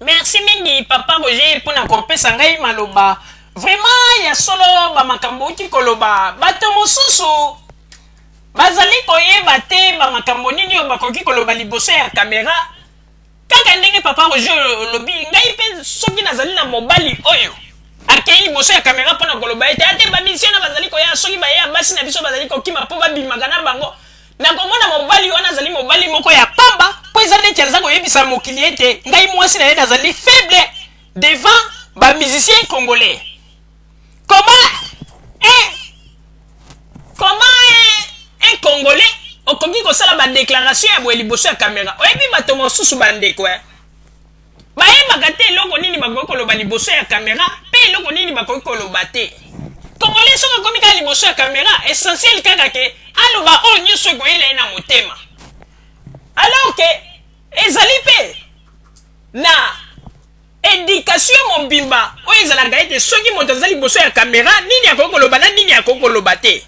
merci mingi papa roger mpo na kopesa ngai maloba vraiment ya solo bamakambo outi koloba bato mosusu bazali koyeba te bamakambo nini oyo bakoki koloba liboso ya kamera kaka ndenge papa roger olobi ngai mpe soki nazali na mobali oyo akei liboso ya kamera mpo na koloba ete ate bamisio na bazali koya soki baye ya basi na biso bazali kokima mpo babimaka na bango Nakomona mobali wana azali mobali moko ya pamba mpo eza neti aza koyebisa mokili ete ngai mwasi na ye nazali faible devant ba musiciens congolais. Comment un, comment un, un congolais okoki kosala ba declaration ya boye liboso ya camera? Oyebi bato mosusu bandeko eh? Bayebaka te eloko nini bakoki koloba liboso ya camera pe eloko nini bakoki koloba te. Congolais soki akomi kaka liboso ya camera, essentiel kaka ke aloba oyo nyonso ekoyela ye na motema. Alors ke ezali pe na education mobimba oyo ezalaka ete soki moto aza liboso ya camera nini akoki koloba na nini akoki koloba te.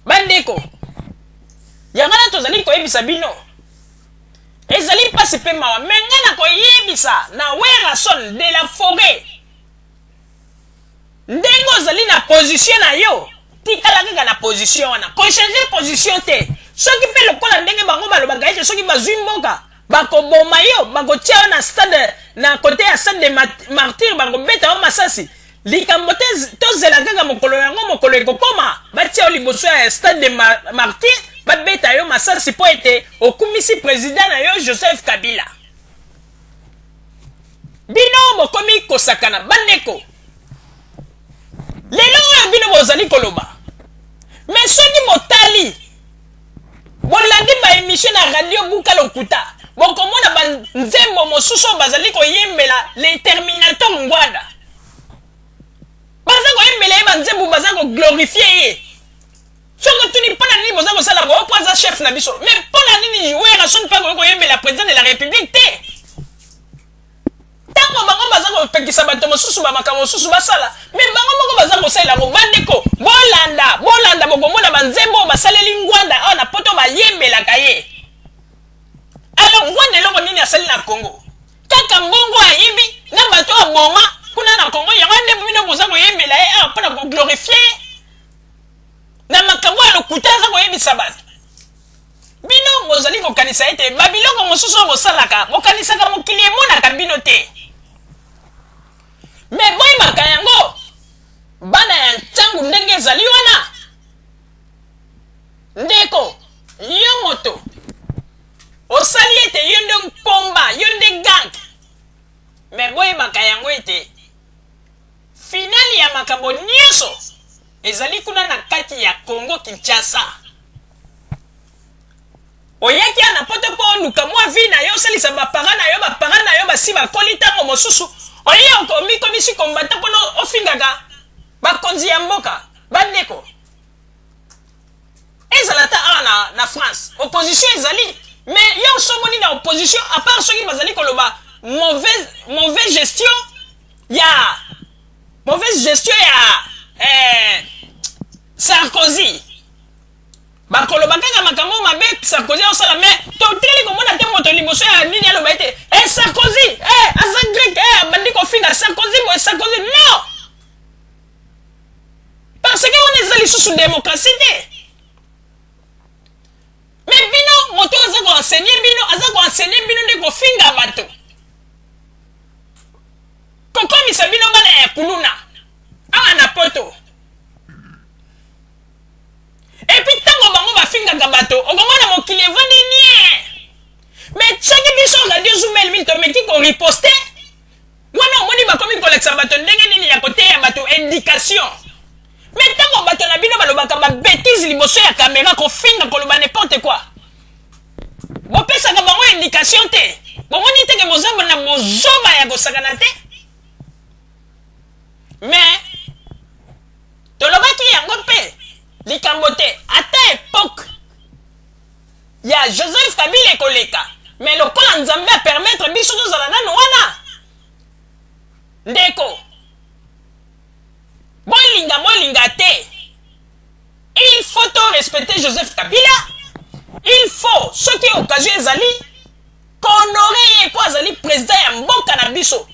Bandeko, yango wana tozali koyebisa bino. Ezali pasi pe mawa mais nga na koyebisa na Werrason de la foret ndenge ozali na position na yo tikala kaka na position wana ko changer position te soki pe lokola ndenge bango balobaka ete soki bazwi mboka bakoboma yo bakotia yo na stade na kote ya stade de martyr bakobeta yo masasi Likambo te tozela kaka mokolo yango mokolo ekokoma batia yo liboso ya stade de mar martyr babeta yo masasi mpo ete okumisi president na yo joseph kabila bino bokomi kosakana bandeko lelo oyo bino bozali koloba me soki botali Bolandi ba emission na radio buka lokuta bokomona ba nzembo mosusu oyo bazali koyembela le terminator ngwada baza koyembela ye banzembo baza koglorifie ye soki otuni mpo na nini boza kosala boyo mpo aza chef na biso mais mpo na nini werrason mpe akoki koyembela président de la république te Tango bango baza kopekisa bato mosusu ba makambo mosusu basala, mais bango moko baza kosalela yango. Ba ndeko, bolanda, bolanda, bokomona ba nzembo oyo basaleli Ngwanda awa na poto bayembelaka ye. Alors Ngwanda eloko nini asali na Congo? Kaka mbongo ayibi na bato aboma kuna na Congo, yango nde bino boza koyembela ye awa mpo na ko glorifier ye na makambo ya lokuta aza koyebisa bato. Bino bozali kokanisa ete babiloko mosusu oyo bosalaka, bokanisaka mokili emonaka bino te. Me boyebaka yango, bana ya ntango ndenge ezali wana. Ndeko, yo moto, osali ete yo nde mpomba, yo nde gang. Me boyebaka yango ete finali ya makambo nyonso ezali kuna na kati ya Congo Kinshasa. oyaki awa na poto mpo oluka mwa vie na yo osalisa bapara na yo bapara na yo basi bakoli ntango mosusu oye omikomisi kombata mpona ofingaka bakonzi ya mboka bandeko ezala ata awa na, na france opposition ezali me yo osomoni na opposition apart soki bazali koloba mauvaise, mauvaise gestion ya mauvaise gestion ya eh, sarkozy Bakoloba kaka makambo mabe Sarkozy azosala mais toteli komona te moto liboso ya nini aloba ete eh Sarkozy eh aza grec eh abandi kofinga Sarkozy boye Sarkozy non parce que wana eza lisusu démocratie te mais bino moto aza koenseigner bino aza koenseigner bino nde kofinga bato kokomisa bino bana ya kuluna awa na poto Et puis tango bango ba fingaka bato okomona mokili evandi nien mais soki biso radio zumel mil tomeki ko riposte wana omoni bakomi kolakisa bato ndenge nini ya koteya bato education mais ntango bato na bino balobaka babetise liboso ya kamera kofinga koloba n'importe quoi bopesaka bango education te bomoni teke bozamba na bozoba ya kosakana te mais tolobaki yango mpe likambo te ata epoque ya joseph kabila ekoleka mais lokola nzambe a permettre biso tozala nano wana ndeko bolinga bolinga te il faut to respecter joseph kabila il faut soki occasion ezali kohonore ye mpo azali president ya mboka na biso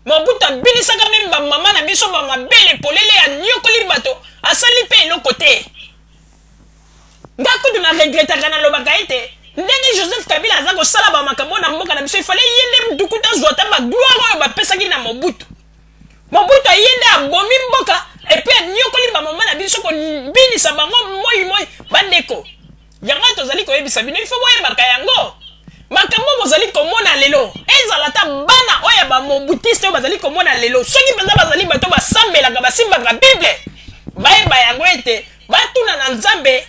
Mobutu abinisaka meme ba maman na biso ba mabele polele aniokoli bato asali pe eloko te nga kutu na regretaka na lobaka ete ndenge Joseph Kabila aza kosala ba makambo na mboka na biso il fallait ye nde mutu kutu azwa ata ba gloire oyo bapesaki na Mobutu Mobutu aye nde abomi mboka epuis aniokoli ba maman na biso kobinisa bango moi moi bandeko Yango oyo tozali koyebisa bino, ifo boyebaka yango. Makambo bozali komona lelo, ezala ata bana oyo ya ba mobutiste oyo bazali komona lelo, soki mpenza bazali bato basambelaka, basimbaka Bible, bayeba yango ete batuna na Nzambe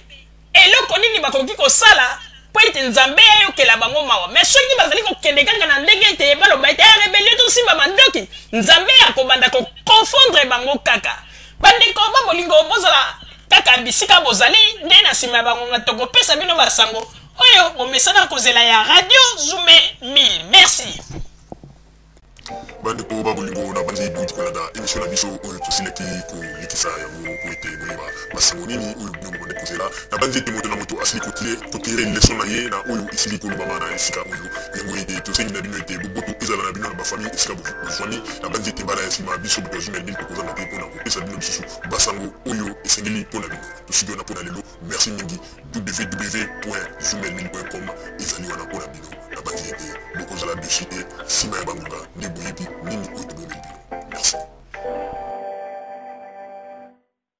eloko nini bakoki kosala mpo ete nzambe ayokela bango mawa me soki bazali kokende kaka na ndenge ete baloba ete eh, rebelio tosimba mandoki nzambe akobanda koconfondre bango kaka Bandeko ba bolingo, bozala kaka bisika bozali, nde na nsima ya bangonga tokopesa bino basango oyo bomesana kozela ya Radio Zume 1000. Merci. bandeko ba bolingo na bandi bouti kolanda emission na biso oyo tosilaki kolekisa yango po ete boyeba masango nini oyo bino bobandi kozela na bandi ete moto na moto asili kotirer leson na ye na oyo esili kolobama na esika oyo Yango ete tosengi na bino ete boboto ezala na bino na bafamille esika bozwami. Nabanzi ete mbala ya nsima biso moto ya Zoom ya Lille tokozanga te mpo na kopesa bino lisusu basango oyo esengeli mpo na bino. Tosili wana mpo na lelo. Merci mingi. www.zoomelille.com ezali wana mpo na bino. Nabanzi ete bokozala deçu te nsima ya bangonga nde boyebi nini oyo tobongeli bino. Merci.